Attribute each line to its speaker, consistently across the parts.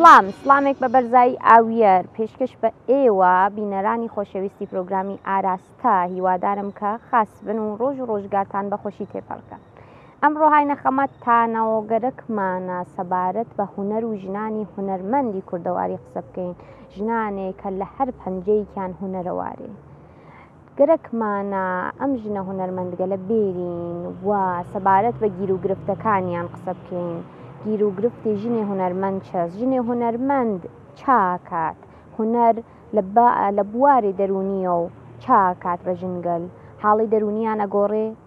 Speaker 1: سڵام سڵامێک بە بەرزایی ئاویەر پێشکەش بە ئێوە بینەرانی خۆشەویستی پرۆگرامی ئاراستە هیوادارم کە خاس بن و ڕۆژ و ڕۆژگارتان بەخۆشی تێپەڕکە ئەمڕۆ هاینە خەمە تانەوە گەرەکمانە سەبارەت بە هونەر و ژنانی هونەرمەندی کوردەواری قسە بکەین، ژنانێک کە لە هەر پەنجەیەکیان هونەرەوارین. گەرەکمانە ئەم ژنە هونەرمەندگەلە بێرین و سەبارەت بە گیروگرفتەکانیان قسە بکەین. گیروگرفتی ژنێ هونەرمەند چەس؟ ژنێ هونەرمەند چاکات؟ هونەر لە بواری دەروونییەوە چاکات بە ژنگەل؟ حاڵی دەروونیان ئەگۆڕێ؟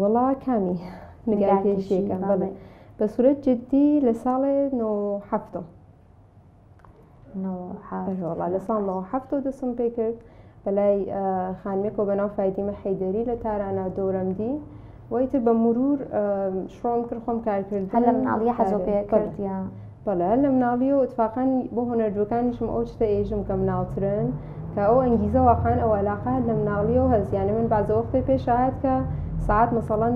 Speaker 1: وەڵا
Speaker 2: کامی نگار کێشیەکە بەڵێ بە سورەت جدی لە ساڵێ نۆ حەفتم وڵا لە ساڵ نۆ حەفت و دەسم پێ کرد بەلای خانمێکۆ بەناو فیدیمە حەیدەری لە تارانە دۆرەمدی ویتر بە مرور شڕۆم کرد خۆم کارکرد هەلم ناڵە حەزۆ
Speaker 1: پێ کردە بەڵێ هەر لە
Speaker 2: مناڵیەوە اتفاقا بۆ هونەرجوەکانیشم ئەو شتە ئێژم کە مناڵترن کە ئەو ئەنگیزە واقعان ئەو علاقە هەر لە مناڵیەوە هەست یانە من بازەوە قسەی پێشهات کە سعات مەسەڵەن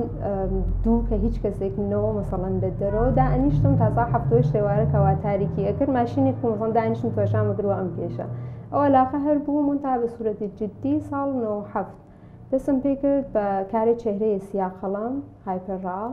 Speaker 2: دوو کە هیچ کەسێک منەوە مەسەڵەن لە دەرەوە دا ئەنیشتم تازا هەفتۆی شێوارە کەوا تاریکی ئەکرد ماشینێک کومزان دانیشتم توێشان بگرەوە ئەم پێشە ئەو علاقە هەر بوو من تا بە سوورەتی جددی ساڵ 97 دەسم پێ کرد بە کارێ چهرەیە سیاقەڵم هایپەرڕاڵ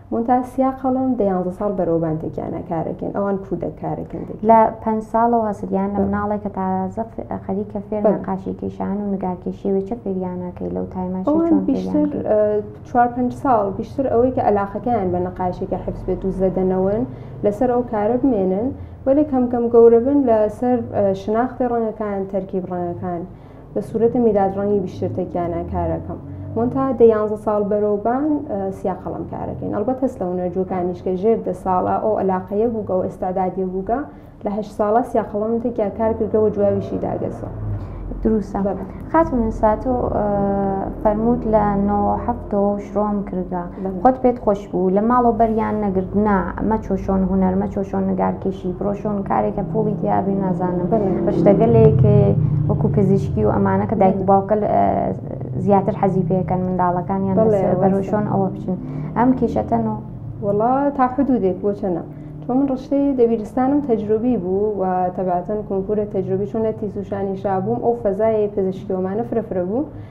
Speaker 2: مونتاژ، سیا قەڵەم، دە یانزە ساڵ بەرەو بانتەکیانا کارەکەن، ئەوان کوودەک کارەکەن دەکەن. لە پەنج
Speaker 1: ساڵەوە هەستگیانە مناڵێک کە تازە خەریکە فێر نەقاشی کێشان و نگارکێشیە وێ چە فێریانە کەی لەو تایمە چی چۆن فێریان کەی؟ ئەوان بیشتر
Speaker 2: چوار پەنج ساڵ بیشتر ئەوەی کە ئەلاقەکەیان بە نەقاشیەکە حفز بێت و زەدەنەوەن لەسەر ئەو کارە بمێنن وەلێ کەم کەم گەورە بن لە سەر شناختی ڕەنگەکان تەرکیب ڕەنگەکان بە سورەتە میرات ڕەنگی بیشتر تەکیانە کارەکەم مۆنتا دە یانزە ساڵ بەرەوبان سیا قەڵم کارەکەین ئەڵبەت هەست لە هونەرجوەکانیش کە ژێر دە ساڵە ئەو علاقەیە بووگە و ئێستادادی بووگە لە هەش ساڵە سیا قەڵم تەکیا کار کردەوە جوابیشی داگەسە دروستە
Speaker 1: خاتون ساتۆ فەرمووت لە نۆ هەفتەوە شرۆم کردە دەمخۆت پێت خۆش بوو لە ماڵەوە بەریان نەگرت نا مەچۆ شۆن هونەر مەچۆ شۆن نگارکێشی بڕۆ شۆن کارێکە پوڵی تیابێ نازانم بەشتەگەلێک وەکو پزیشکی و ئەمانە کە دایک و باوکە زیاتر حەزی پێەکەن منداڵەکانیان بەرۆ شۆن ئەوە بچن ئەم کێشەتەن و وڵا تا
Speaker 2: حدودێک بۆچەنە تۆ من ڕشتەی دەبیرستانم تەجروبی بوو و تەباتەن کۆمپورە تەجروبی چۆن لە تیزوشانی شابووم ئەو فەزایە پزیشکیۆمانە فرەفرە بوو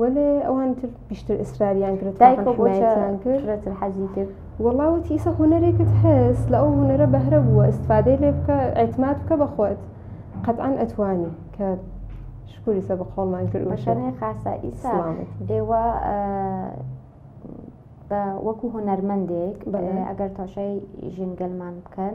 Speaker 2: وەلێ ئەوان تر پیشتر ئیسراریان کرد دایکۆ بۆچە حمایەتیان کرد فرەتر حەزی کرد
Speaker 1: وەڵاوەتی ئیسە
Speaker 2: هونەرێکت هەست لە ئەو هونەرە بەهرە بووە ئیسفادەی لێ بکە ئەتمات بکە بەخۆت قەتعاان ئەتوانی کە شکوری سە بە قۆڵمان کرد مەشەنێ خاسە ئیسا
Speaker 1: سلامت ئێوە بە وەکو هونەرمەندێک ئەگەر تۆشەی ژینگەلمان بکەن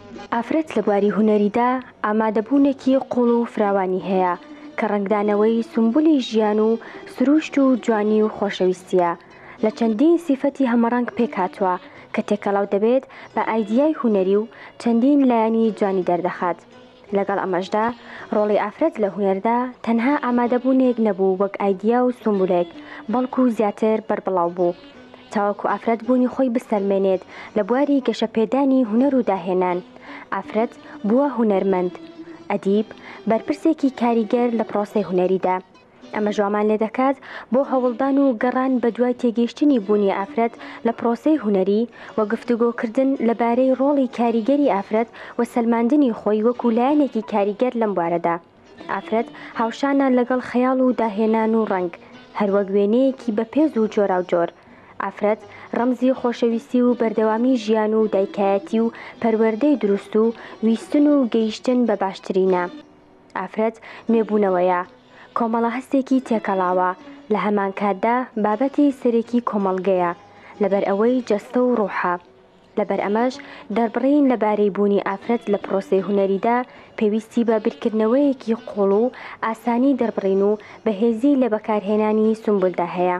Speaker 3: ئافرەت لە بواری هونەریدا ئامادەبوونێکی قووڵ و فراوانی هەیە کە ڕەنگدانەوەی سومبولی ژیان و سرووشت و جوانی و خۆشەویستییە لە چەندین سیفەتی هەمەڕەنگ پێکهاتووە کە تێکەڵاو دەبێت بە ئایدیای هونەری و چەندین لایەنی جوانی دەردەخات. لەگەڵ ئەمەشدا ڕۆڵی ئافرەت لە هونەردا تەنها ئامادەبوونێک نەبوو وەک ئایدیا و سومبولێک، بەڵکو زیاتر بەربڵاو بوو. تاوەکو ئافرەت بوونی خۆی بسەلمێنێت لە بواری گەشەپێدانی هونەر و داهێنان، ئافرەت بووە هونەرمەند، ئەدیب، بەرپرسێکی کاریگەر لە پرۆسەی هونەریدا. ئەمەش وامان لێدەکات بۆ هەوڵدان و گەڕان بەدوای تێگەیشتنی بوونی ئافرەت لە پرۆسەی هونەری و گفتوگۆکردن لەبارەی ڕۆڵی کاریگەری ئافرەت و سەلماندنی خۆی وەکو لایەنێکی کاریگەر لەم بوارەدا. ئافرەت هاوشانە لەگەڵ خەیاڵ و داهێنان و ڕەنگ، هەروەک وێنەیەکی بەپێز و جۆراوجۆر. ئافرەت ڕەمزی خۆشەویستی و بەردەوامی ژیان و دایکایەتی و پەروەردەی دروست و ویستن و گەیشتن بە باشترینە. ئافرەت نوێبوونەوەیە، کۆمەڵە هەستێکی تێکەڵاوە، لە هەمانکاتدا بابەتی سەرێکی کۆمەڵگەیە، لەبەرئەوەی جەستە و ڕوحە. لەبەر ئەمەش دەربڕین لەبارەی بوونی ئافرەت لە پرۆسەی هونەریدا پێویستی بە بیرکردنەوەیەکی قووڵ و ئاسانی دەربڕین و بەهێزی لە بەکارهێنانی سومبولدا هەیە.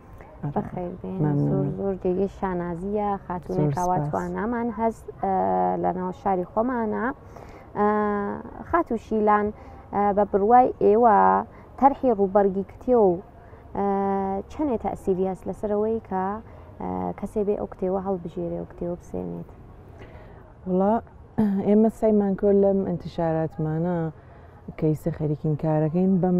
Speaker 1: زۆر زۆر جێگەی شانازیە خاتونەکواتوانامان هەز لەناو شاری خۆمانە خاتو شیلان بە بڕوای ئێوە تەرحی ڕووبەرگی کتێ و چەندێ تاسیریاس لەسەرەوەی کە کەسێ بێ ئەو کتێوە هەڵبژێرێ و کتێوە بسێنێت
Speaker 4: وڵا ئێمە سایمانکۆ لەم ئەتیشاراتمانە کەیسە خەریکین کارەکەین بەم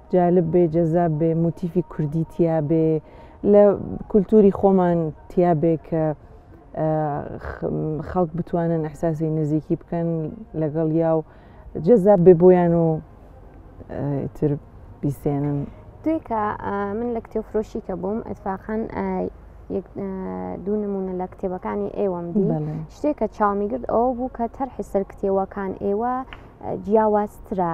Speaker 4: جالب بێ جەزاب بێ موتیفی کوردی تیا بێ لە کولتوری خۆمان تیا بێ کە خەڵک بتوانن ئەحساسی نزیکی بکەن لەگەڵ یا و جەزاب بێ بۆیان و تر بیسێنن دوێکە
Speaker 1: من لە کتێ فرۆشی کە بووم ئەتفاقان دوو نمونە لە کتێبەکانی ئێوەم دی شتێکە چاومی گرت ئەوە بوو کە تەرحی سەر کتێوەکان ئێوە جیاوازترە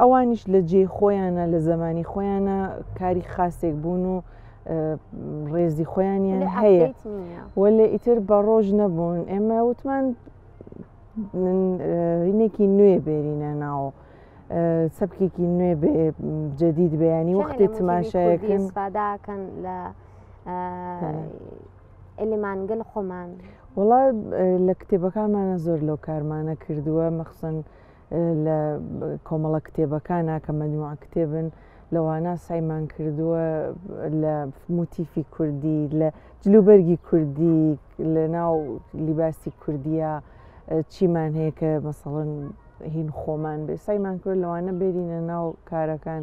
Speaker 4: ئەوانیش لە جێ خۆیانە لە زمانی خۆیانە کاری خاستێک بوون و ڕێزی خۆیانیان هەیە وەلێ ئیتر بە ڕۆژ نەبوون ئێمە وتمان هینێکی نوێ بێرینە ناوە. سەبکێکی نوێ جدید بەیانی وەختی تماشایەکەن
Speaker 1: لە ئەلیمانگل خۆمان وڵا
Speaker 4: لە کتێبەکانمانە زۆر لەو کارمانە کردووە مەخسن لە کۆمەڵە کتێبەکانە کە مەجموع کتێبن لەوانە سایمان کردووە لە موتیفی کوردی لە جلوبەرگی کوردی لە ناو لیباسی کوردیە چیمان هەیە کە مەسەڵن هین خۆمان بێ سایمان کرد لەوانە بێرینە ناو کارەکان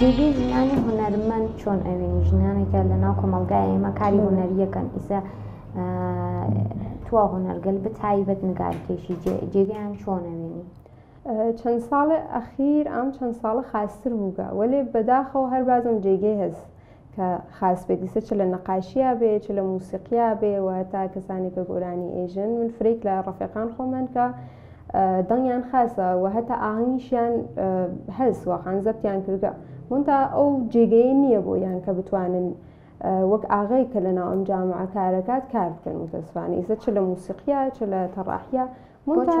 Speaker 1: جێگەی ژنانی هونەرمەند چۆن ئەوێنی ژنانێکە لە ناو کۆمەلگای ئێمە کاری هونەریەکەن ئیسە توا هونەرگەل بە تایبەت نگارکێشی جێگەیان چۆنەوێنی چەن
Speaker 2: ساڵێ ئەخیر ئام چەن ساڵە خاستر بووگە، وەلێ بەداخەوە هەر بازم جێگەی هەس کە خاس بێ دیسە چ لە نەقاشیا بێ چ لە مووسیقیا بێ و هەتا کەسانێ کە گۆرانی ئێژن من فرەیک لە ڕەفێقان خۆمن کە دەنگیان خاسە و هەتا ئاهەنگیشیان هەس واقعەن زەبتیان کردگە مونتا ئەو جێگەیە نییە بۆ یان کە بتوانن وەک ئاغەی کە لەناو ئەم جامعە کارەکات کار بکەن متەسفانە ئیسە چ لە مووسیقیا چ لە تەڕاحیا مونتا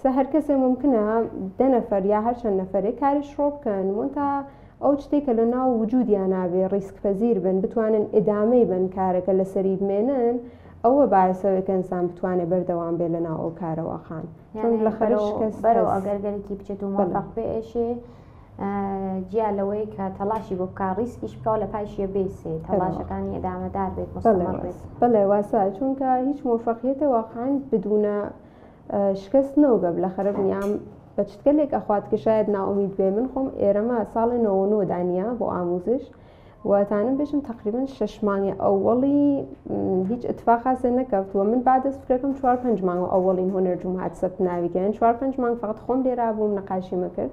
Speaker 2: سە هەرکەسێ مومکنە دە نەفەر یا هەر چەند نەفەرێ کاری شڕۆ بکەن مۆنتا ئەو چتێ کە لە ناو وجودیان نابێ ڕیسک پەزیر بن بتوانن ئیدامەی بەن کارەکە لە سەری بمێنن ئەوە بایەسەوەی کە ئینسان بتوانێ بەردەوام بێ لە ناو ئەو کارەوە خان چون لە خەرش شکەست بەرەو ئەگەرگەرێکی
Speaker 1: بچێت و مۆفەق بێ ئێشێ جیا لەوەی کە تەلاشی بۆ بکە ڕیسکیش بکەوە لە پایشیە بێسێ تەلاشەکانی ئەدامەدار بێت بەڵێ واسە
Speaker 2: چونکە هیچ مۆفەقیتە واقعاان بدونە شکست نەو گە بلە خرب نیام بە چتکە لێک ئەخوات کە شاید ناومید بێ من خۆم ئێرەمە ساڵێ نەوە نۆ دانە بۆ ئاموزش وتانم بێژم تقریبن شش مانگی ئەوەڵی هیچ اتفاقاسێ نەکەوت و من بعد سفرەکەم چوار پنج مانگ ئەوەڵین هۆنەر جوم هات سەب ناویگەن چوار پنج مانگ فقط خۆم لێرا بووم نەقاشیمە کرد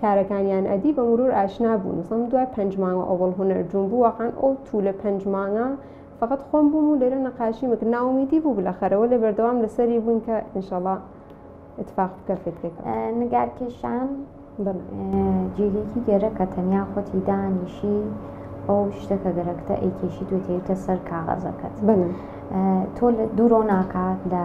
Speaker 2: کارەکانیان ئەدی بە مرور ئاشنا بوو نزم دوای پنج مانگە ئەوەڵ هونەر جون بوو واقعا ئەو تو لە پنج مانگە فقط خۆم بووم و لێرە نەقاشی مەکرد ناومیدی بوو بلەخەرە وەلێ بەردەوام لەسەری بووین کە انشاءاللە اتفاق بکە فکرێک نگارکێشان
Speaker 1: جێگەیەکی گەرە کە تەنیا خۆتی دانیشی ئەو شتە کە گەرەکتە ئەیکێشی توێتێتە سەر کاغەزەکەت تۆ لە دوورۆ ناکات لە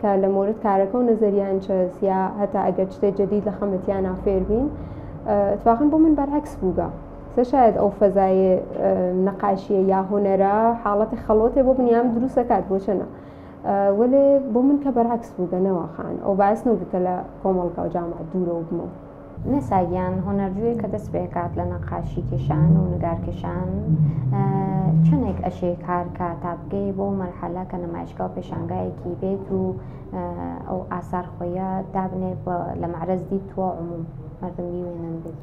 Speaker 2: کە لە مۆرد کارەکە و نەزەریان چەس یا هەتا ئەگەر شتێ جدید لە خەمەتیانە فێربین اتفاقا بۆ من بەرعکس بووگە سە شاید ئەو فەزایە نەقاشیە یا هۆنەرە حاڵەتی خەڵۆتێ بۆ بنیام دروستەکات بۆ چەنە وەێ بۆ من کە بەرعکس بووگە نەوەخان ئەو باس نەوتە لە کۆمەڵگا و جامعات دوورە و بمەوە نەسا گیان
Speaker 1: هونەرجوێ کە دەست پێکات لە نەقاشی کێشان و نگارکێشان چەندێک ئەشێ کار کا تا بگەی بۆ مەرحەلە کە نمایشگا و پێشانگایەکی بێت و ئەو ئاسار خۆیە دابنێ لە معرەزدی تووە عموم مردم بیوێنن بێت.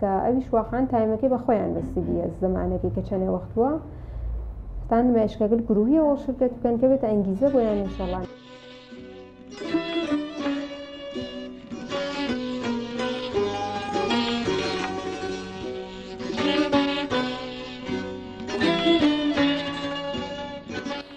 Speaker 2: کە ئەوی شواخان تایمەکەی بە خۆیان بەسیبیە زمانەکەی کە چەنێ وەخت بووە ستان مێشکەگر گروهیەوە شرکەت بکەن کە بێت ئەنگیزە بۆیان نیشەڵان.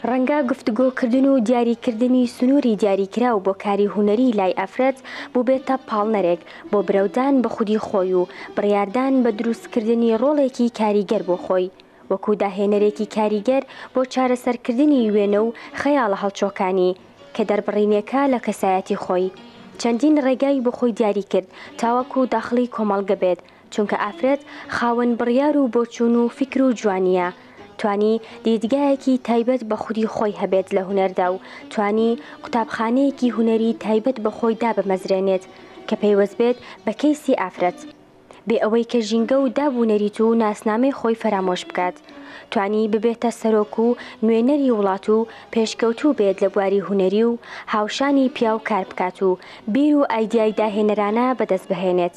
Speaker 3: ڕەنگە گفتگۆکردن و دیاریکردنی سنووری دیاریکراو بۆ کاری هونەری لای ئەفرەت بووبێتە پاڵنەرێک بۆ برەودان بە خودی خۆی و بڕیاردان بە دروستکردنی ڕۆڵێکی کاریگەر بۆ خۆی، وەکو داهێنەرێکی کاریگەر بۆ چارەسەرکردنی وێنە و خەیاڵە هەڵچۆکانی، کە دەربڕینێکە لە کەسایەتی خۆی. چەندین ڕێگای بۆ خۆی دیاری کرد تاوەکو داخڵی کۆمەڵگە بێت، چونکە ئافرەت خاوەن بڕیار و بۆچوون و فیکر و جوانییە، توانی دیدگایەکی تایبەت بە خودی خۆی هەبێت لە هونەردا و توانی قوتابخانەیەکی هونەری تایبەت بە خۆی دابمەزرێنێت کە پەیوەست بێت بە کەیسی ئافرەت بێ ئەوەی کە ژینگە و داب و نەریت و ناسنامەی خۆی فەرامۆش بکات توانی ببێتە سەرۆک و نوێنەری وڵات و پێشکەوتوو بێت لە بواری هونەری و هاوشانی پیاو کار بکات و بیر و ئایدیای داهێنەرانە بەدەست بهێنێت.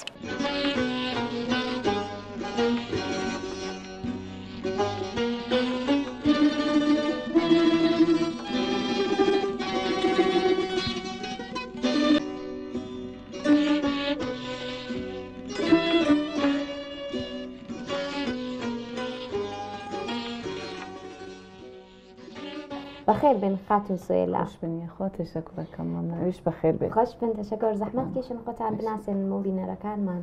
Speaker 1: بەخێر بێن خاتون سوێلا خوش بن خۆ
Speaker 4: تشەکرەکەم مەمنویش بەخێر بێت خوش بن تشەکر زەحمەت
Speaker 1: کێشن خۆتان بناسێن مۆبینەرەکانمان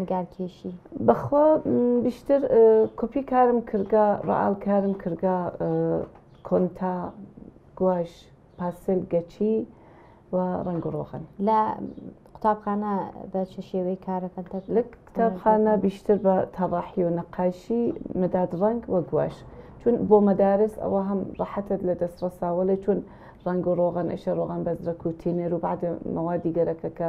Speaker 1: نیگار کێشی بەخوا
Speaker 4: بیشتر کۆپی کارم کردگە ڕعاال کارم کردگە کۆنتا گواش پاسل گەچی و ڕنگ و ڕۆخن لە
Speaker 1: قوتابخانە بە چ شێوەی کارەکەن لە قوتابخانە
Speaker 4: بیشتر بە تەڕاحی و نەقاشی مەداد ڕنگ وە گواش چون بۆ مەدارس ئەوە هەم ڕەحەتت لە دەست ڕساوەڵێ چون ڕنگ و ڕۆغن ئەشە ڕۆغان بەزرە کوتینێر و بعد مەوادی گەرەکەکە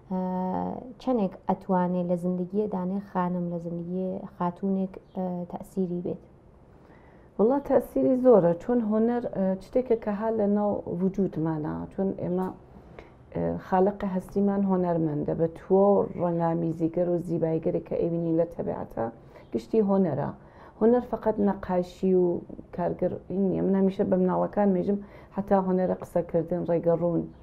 Speaker 1: چەندێک ئەتوانێ لە زندگیە دانێ خانم لە زندگی خاتونێک تەسیری بێت وڵا
Speaker 5: تەسیری زۆرە چۆن هۆنەر شتێکە کە ها لە ناو وجودمانە چۆن ئێمە خاڵقی هەستیمان هۆنەرمەندە بە تووە و ڕەنگامیزیگەر و زیبایگەری کە ئەوینی لە تەبعاتە گشتی هۆنەرە هۆنەر فقط نەقاشی و کارگەر نیە من هەمیشە بە مناڵەکان مێژم حتا هۆنەرە قسەکردن ڕێگەڕوون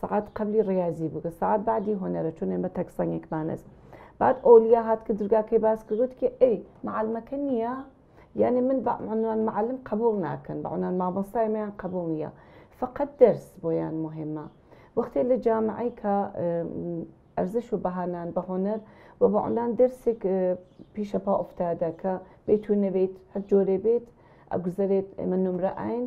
Speaker 5: سەعات قەبلی ڕیازی بوو کە سەعات بعدی هۆنەرە چون ئێمە تەک سەنگێکمانەس بعد ئۆلیا هات کە درگاکەی باس کرد وتی کە ئەی معلمەکە نییە یعنی من بە عنوان معلم قبول ناکەن بە عنوان مامۆستای مەیان قبول نییە فقط درس بۆیان مهمە وەختێ لە جامعەی کە ئەرزش و بەهانان بە هۆنەر و بە عنوان درسێک پیشە پا ئوفتادە کە بیت و نەبیت هەر جۆرێ بێت ئەگوزەرێت ئێمە نمرە ئاین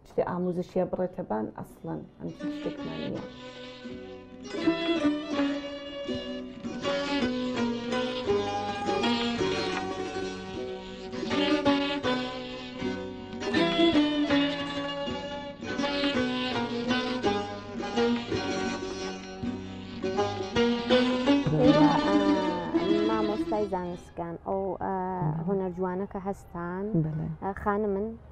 Speaker 5: شتێ ئاموزشیە بڕێتە بان ئەسڵەن ئەم شتێکمان نیە.
Speaker 1: مامۆستای زانستگان ئەو هۆنەر جوانەکە هەستان خانمن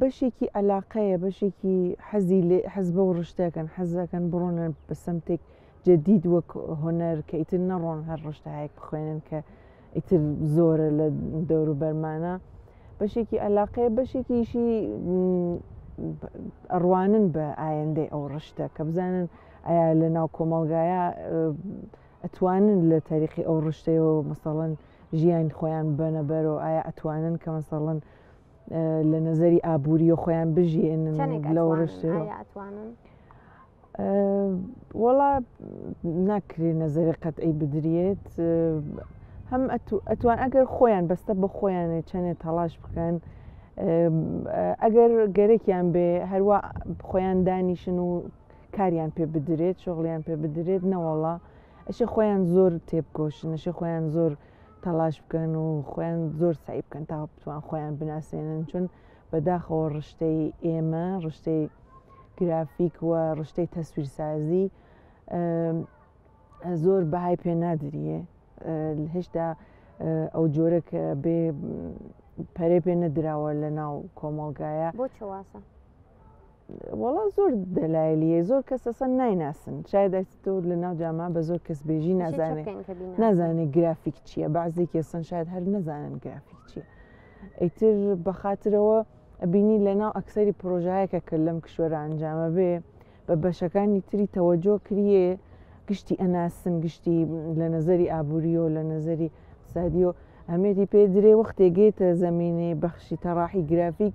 Speaker 4: بەشێکی ئەلاقەیە بەشێکی حەزی لێ حەز بە و ڕشتەکەن حەزەکەن بڕۆنە بە سمتێک جدید وەک هۆنەر کە ئیتر نەڕۆن هەر ڕشتەهایەک بخوێنن کە ئیتر زۆرە لە دەورو بەرمانە بەشێکی ئەلاقەیە بەشێکیشی ئەڕوانن بە ئایندەی ئەو ڕشتە کە بزانن ئایا لە ناو کۆمەلگایە ئەتوانن لە تاریخی ئەو ڕشتەیەوە مەسەڵەن ژیانی خۆیان ببەنە بەرەو ئایا ئەتوانن کە مەسەڵەن لە نظری ئابووری و خۆیان بژێنن لەو ڕشت وەڵا ناکرێ نظری قەتعی بدرێت هەم ئەتوان ئەگەر خۆیان بەستە بە خۆیانێ چەندێ تەڵاش بکەن ئەگەر گەرەکیان بێ هەروە خۆیان دانیشن و کاریان پێ بدرێت شغڵیان پێ بدرێت نەوەڵا ئەشێ خۆیان زۆر تێبکۆشن ئەشێ خۆیان زۆر تەلاش بکەن و خۆیان زۆر سعی بکەن تا بتوان خۆیان بناسێنن چون بەداخەوە ڕشتەی ئێمە ڕشتەی گرافیک و ڕشتەی تەسویرسازی زۆر بەهای پێ نادریە هێشتا ئەو جۆرە کە بێ پەرێ پێ نەدراوە لە ناو کۆمەڵگایە بۆ چواسە وەڵا زۆر دەلایلیە زۆر کەس ئەسەن نایناسن شایدە تۆ لە ناو جاما بە زۆر کەس بێژی نازانێت نازانێت گرافیک چییە بەعزێکی ئەسەن شاید هەر نەزانن گرافیک چییە ئەیتر بە خاطرەوە بینی لە ناو ئەکسری پرۆژایەکە کرد لەم کشوەرە ئەنجامە بێ بە بەشەکانی تری تەوەجۆ کریێ گشتی ئەناسن گشتی لە نظری ئابووریۆ لە نظری سادیۆ ئەمێری پێ درێ وەختێ گێتە زمینێ بەخشی تەڕاحی گرافیک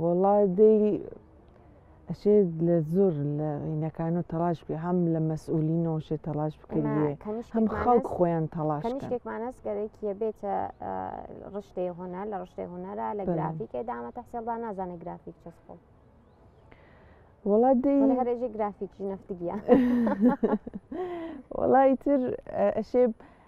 Speaker 1: وەڵا
Speaker 4: دەی ئەشێ لە زۆر لە عینەکان و تەلاش بێ هەم لە مەسئولینەوە شێ تەلاش بکردێ هەم خەڵک خۆیان تەلاش کەنیشتێکمانەس گەرەکیە
Speaker 1: بێتە ڕشتەی هۆنەر لە ڕشتەی هۆنەرە لە گرافیکێ دامە تەحسێڵدا نازانە گرافیک چەس خۆڵ
Speaker 4: وڵا دی هەرێژی گرافیکی
Speaker 1: نفتگیە
Speaker 4: وڵی تر ئەشێ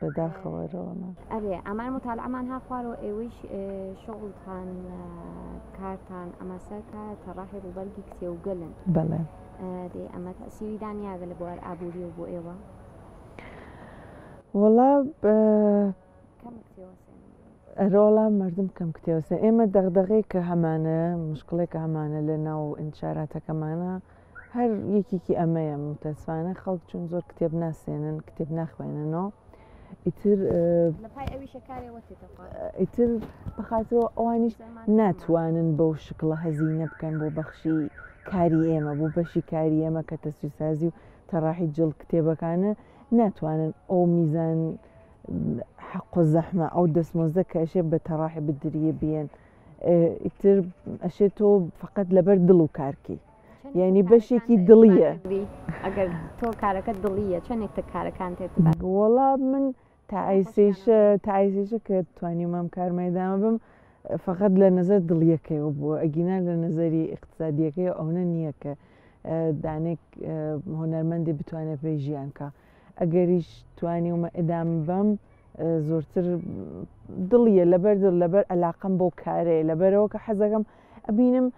Speaker 4: بە داخەوە رەوە ناکەم. ئەرێ
Speaker 1: ئەمان متالعەمان ها خوارەوە ئێوەیش شغڵتان کارتان ئەمە سەر کارە تەڕاحی ڕووبەرگی کتێوگەلن بەڵێ
Speaker 4: دێ ئەمە
Speaker 1: تەسیری دانیاگە لە بوار ئابووری و بۆ ئێوە
Speaker 4: وڵا ئەرۆڵا مردم کەم کتێوسە ئێمە دەغدەغێک کە هەمانە مشکڵێک هەمانە لە ناو ئینشاراتەکەمانە هەر یەکێکی ئەمەیە متەسفانە خەڵک چون زۆر کتێب ناسێنن کتێب ناخوێننەوە ئیتر ئیتر بەخاتەوە ئەوانیش ناتوانن بەو شکڵە هەزینە بکەن بۆ بەخشی کاری ئێمە بۆ بەشی کاری ئێمە کە تەسویسازی و تەڕاحی جڵ کتێبەکانە ناتوانن ئەو میزان حەق و زەحمە ئەو دەستمۆزە کەشێ بە تەڕاحی بدریە بێن ئیتر ئەشێت تۆ فقط لەبەر دڵ و کارکەیت یعنی بەشێکی دڵیە ئەگەر
Speaker 1: تۆ کارەکە دڵیە چەندێک تە کارەکان تێت وەڵا من
Speaker 4: تاعیسیشە تاعیسیشە کە توانی مام کارمەدامە بم فقط لە نظر دڵیەکەیەوە بووە ئەگینا لە نظری اقتصادیەکەی ئەوە نییە کە دانێک هۆنەرمەندی بتوانێت پێی ژیانکە ئەگەریش توانی ومە ئەدام بەم زۆرتر دڵیە لەبەر دڵ لەبەر ئەلاقم بۆ کارێ لەبەرەوە کە حەزەکەم ئەبینم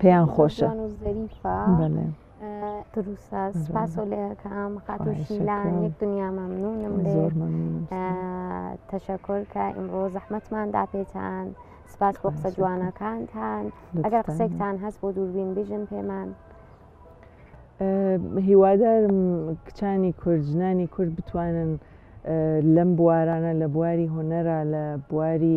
Speaker 4: پێیان
Speaker 1: خۆشە
Speaker 4: تەشەکر
Speaker 1: کە ئیمڕۆ زەحمەتمان داپێتان سپاس بۆ قسە جوانەکانتان ئەگەر قسێکتان هەست بۆ
Speaker 4: دووربین
Speaker 1: بژن پێمان
Speaker 4: هیوادارم کچانی کورد ژنانی کورد بتوانن لەم بوارانە لە بواری هۆنەرا لە بواری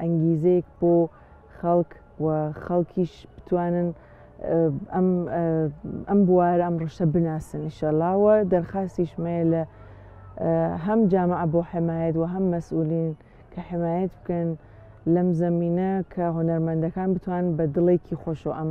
Speaker 4: ئەنگیزەیەک بۆ خەڵک و خەڵکیش بتوانن ئەم بوارە ئەم ڕشە بناسن ئیشەڵاوە دەرخاستیشمەیە لە هەم جامع بۆ حمایەت و هەم مەسئولین کە حمایەت بکەن لەم زمینە کە هۆنەرمەندەکان بتوان بە دڵێکی خۆشەوە ئەم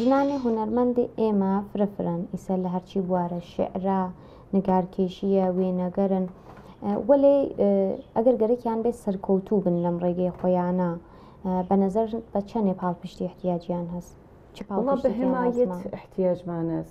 Speaker 1: ژنانی هونەرمەندی ئێمە فرە فرەن، ئیسە لە هەرچی بوارە، شیعرە، نگارکێشییە، وێنەگەرن، وەلێ ئەگەر گەرەکیان بێت سەرکەوتوو بن لەم ڕێگەی خۆیانە، بە نەزەر بە چەنێ پاڵپشتی احتیاجیان هەس؟ چ پاڵپشتێکیان لازمە؟
Speaker 5: واللە بە هێمایەت احتیاجمان هەس،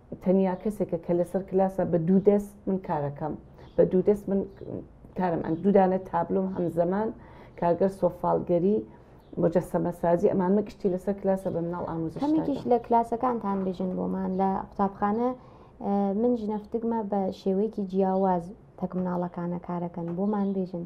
Speaker 5: تەنیا کەسێکە کە لەسەر کلاسە بە دوو دەست من کارەکەم بە دوو دەست من کارم ئەن دوودانە تابلۆم هەم زەمان کارگەر سۆفاالگەری مجەسەمە سازی ئەمان من کشتی لەسەر کلاسە بە مناڵ ئاموزشتێکیش لە کلاسەکانتان
Speaker 1: بژن بۆمان لە قوتابخانە من ژنەفتگمە بە شێوەیەکی جیاواز تەک مناڵەکانە کارەکەن بۆمان بێژن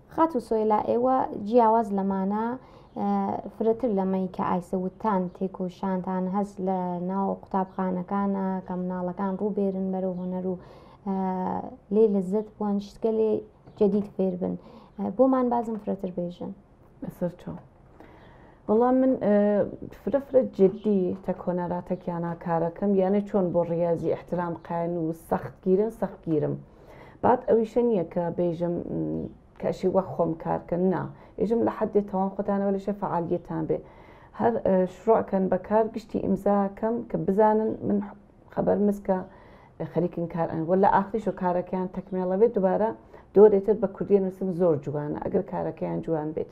Speaker 1: خاتوو سۆیلا ئێوە جیاواز لەمانە فرەتر لەمەی کە ئایسە وتان تێکۆشانتان هەست لە ناو قوتابخانەکانە کە مناڵەکان ڕووبێرن بەرەو هۆنەر و لێ لەزت بوون شتگە لێ جدید فێربن بۆمان
Speaker 5: بازم
Speaker 1: فرەتر بێژن سەر
Speaker 5: چۆن
Speaker 1: بەڵام
Speaker 5: من فرە فرە جددی تە کۆنەراتەکیانە کارەکەم یانە چۆن بۆ ڕاضی احترام قاین و سەخت گیرن سەخت گیرم بعد ئەویشە نییە کە بێژم کەشی وە خۆم کارکەن نا ئێژم لە حدێ تەوان خۆتانەوە لەشە فعالیتان بێ هەر شڕۆکەن بەکار گشتی ئیمزاکەم کە بزانن من خبر مسکە خەریکن کار ئەن وە لە ئاخریش و کارەکەیان تەکمێڵەوێت دوبارە دۆرێتت بە کوردی نووسم زۆر جوانە ئەگەر کارەکەیان جوان بێت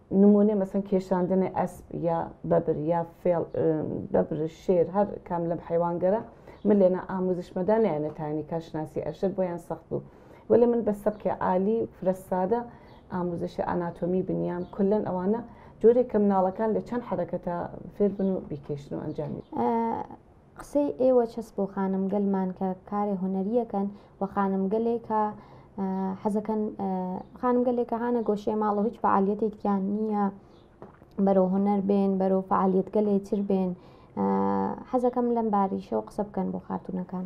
Speaker 5: نمونە مەسەن کێشاندنی ئەسپ یا بەبر یا فێڵ بەبر شێر هەر کام لەم حیوانگەرە من لێنا ئاموزشمەدا نیانەتانی کارشناسی ئەشر بۆیان سەخت بوو وەلێ من بە سەبکێ عالی فرە سادە ئاموزشی ئاناتۆمی بنیام کلەن ئەوانە جۆرێک کە مناڵەکان لە چەند حرەکەتە فێربن و بیکێشن و ئەنجامی
Speaker 1: قسەی ئێوە چەس بۆ خانم گەلمان کە کارێ هونەریەکەن و خانم گەلێک کە حەزەکەن خانم گەلێک کە هانە گۆشێ ماڵە هیچ فعالیەتێکیان نییە بەرەو هونەر بێن بەرەو فعالیت گەلێ تر بێن حەزەکەم لەم باریشەوە قسە بکەن بۆ خاتونەکان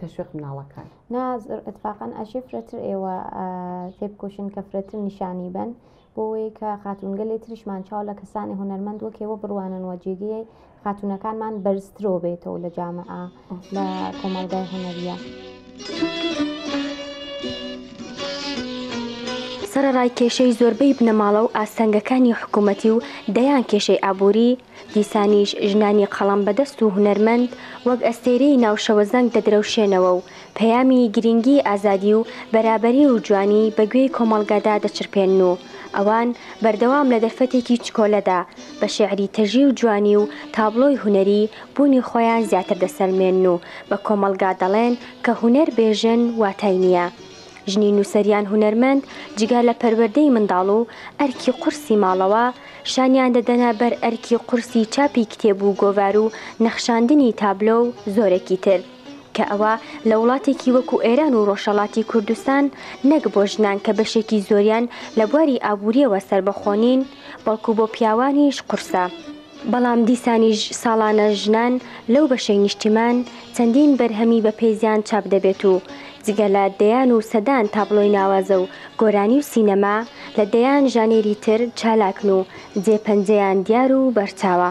Speaker 5: تەشویق مناڵەکان نا اتفاقا
Speaker 1: ئەشێ فرەتر ئێوە تێ بکۆشن کە فرەتر نیشانی بن بۆەوەی کە خاتونگەلێ تریشمان چاو لە کەسانی هونەرمەند وەکێوە بڕوانن وە جێگەی خاتونەکانمان بەرزترۆ بێتەوە لە جامعە لە کۆمەڵگای هونەریە.
Speaker 3: سەرڕای کێشەی زۆربەی بنەماڵە و ئاستەنگەکانی حکوومەتی و دەیان کێشەی ئابووری دیسانیش ژنانی قەڵەم بەدەست و هونەرمەند وەک ئەستێرەی ناو شەوە زەنگ دەدرەوشێنەوە و پەیامی گرینگیی ئازادی و بەرابەری و جوانی بە گوێی کۆمەڵگادا دەچرپێنن و ئەوان بەردەوام لە دەرفەتێکی چکۆلەدا بە شێعری تەژی و جوانی و تابڵۆی هونەری بوونی خۆیان زیاتر دەسەلمێنن و بە کۆمەڵگا دەڵێن کە هونەر بێ ژن واتای نییە. ژنی نووسەریان هونەرمەند جگە لە پەروەردەی منداڵ و ئەرکی قورسی ماڵەوە شانیان دەدەنە بەر ئەرکی قورسی چاپی کتێب و گۆڤار و نەخشاندنی تابلۆ و زۆرێکی تر. کە ئەوە لە وڵاتێکی وەکو ئێران و ڕۆژەڵاتی کوردستان نەک بۆ ژنان کە بەشێکی زۆریان لە بواری ئابووریەوە سەربەخۆنین بەڵکو بۆ پیاوانیش قورسە. بەڵام دیسانیش ساڵانە ژنان لەو بەشەی نیشتیمان چەندین بەرهەمی بە پێزیان چاپ دەبێت و جگە لە دەیان و سەدان تابڵۆی ناوازە و گۆرانی و سینەما، لە دەیان ژانێری تر چالاکن و جێ پەنجەیان دیار و بەرچاوە.